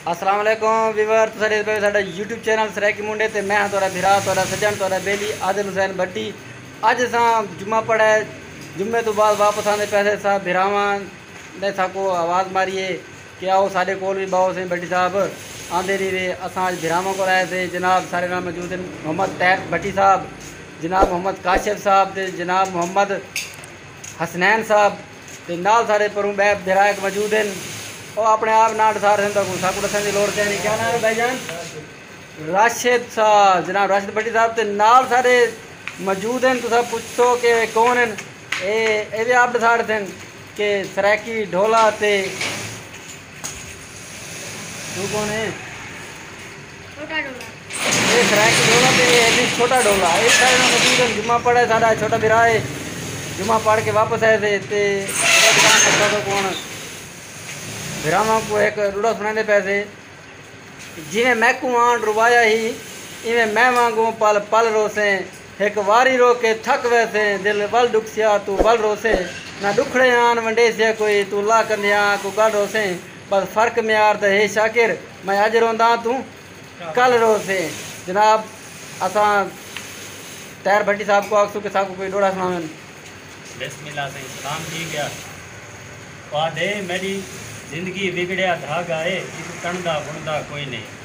السلام علیکم ویور تساں ڈیکھ پے ساڈا یوٹیوب چینل سرائیکی منڈے تے میں ہاں تہاڈا بھرا تہاڈا سجن تہاڈا بیلی عادل حسین بڈی اج اساں جمعہ پڑھا ہے جمعے تو بعد واپس آندے پیسے سا بھراواں نے ساکو آواز ماری ہے کہ آؤ ساڈے کول بھی باؤ سیں بڈی صاحب آندے نہیں رہے اساں اج بھراواں کول آئے سے جناب سارے نال موجود ہیں محمد طاہر بٹی صاحب جناب محمد کاشف صاحب تے جناب محمد حسنین صاحب تے نال سارے پروں بے درائق موجود ہیں او اپنے آپ نہ ڈسار سن تکوں ساکو ڈسن دی لوڑ کہنی کیا نام ہے بھائی جان راشد سا جناب راشد بھٹی صاحب تے نال سارے موجود ہیں تسا پوچھو کہ کون ہیں اے اے وی آپ ڈسار سن کہ سرائیکی ڈھولا تے تو کون ہیں اے سرائیکی ڈھولا تے اے ہیلی چھوٹا ڈھولا اے سارے نال موجود ہیں جمعہ پڑھا ہے ساڈا چھوٹا بھرا ہے جمعہ پڑھ کے واپس آئے تھے تے کون بھراواں کو ایک روڑا سنا دے پے تھے جی میں میکو آن روایا ہی ایویں میں وانگوں پل پل روسیں ہک واری رو کے تھک ویسیں دل ول ڈکھسیا توں ول روسیں نہ ڈکھڑے آن ونڈیسیا کوئی توں لا کندھیاں کو گل روسیں بس فرق معیار دا ہے شاکر میں اج رونداں توں کل روسیں جناب اساں طاہر بھٹی صاحب کو آکھسوں کہ ساکوں کوئی ڈوہڑا سناون۔ بسم اللہ سائیں سلام تھی گیا پادھے میڈی زندگی وگڑیا دھاگا اے ایکوں ٹنڑدا بنڑدا کوئی نئیں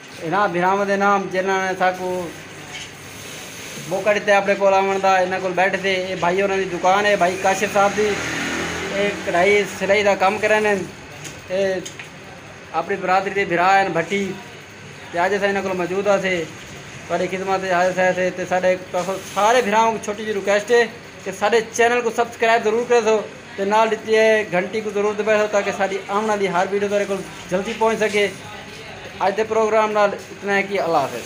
انہاں بھراواں دے نام جنہاں نے ساکوں موقع ݙتے آپݨے کول آوݨ دا انہاں کول بیٹھے سے اے بھائی ہوراں دی دکان اے بھائی کاشف صاحب دی اے کڑھائی سلائی دا کم کریندے ہن اے اپݨی برادری دے بھرا ہن بھٹی تے اج اساں انہاں کول موجود ہاسے تہاݙی خدمت اچ حاضر شاہر سے تے ساݙے تہاکوں سارے بھراواں کوں چھوٹی جی ریکویسٹ اے تے ساڈے چینل کوں سبسکرائب ضرور کریسو تے نال ڈتی اے گھنٹی کوں ضرور دبائیسو تاکہ ساڈی آون آلی ہر ویڈیو تہاڈے کول جلدی پہنچ سکے تے اج دے پروگرام نال اتنا ہی کی اللہ حافظ۔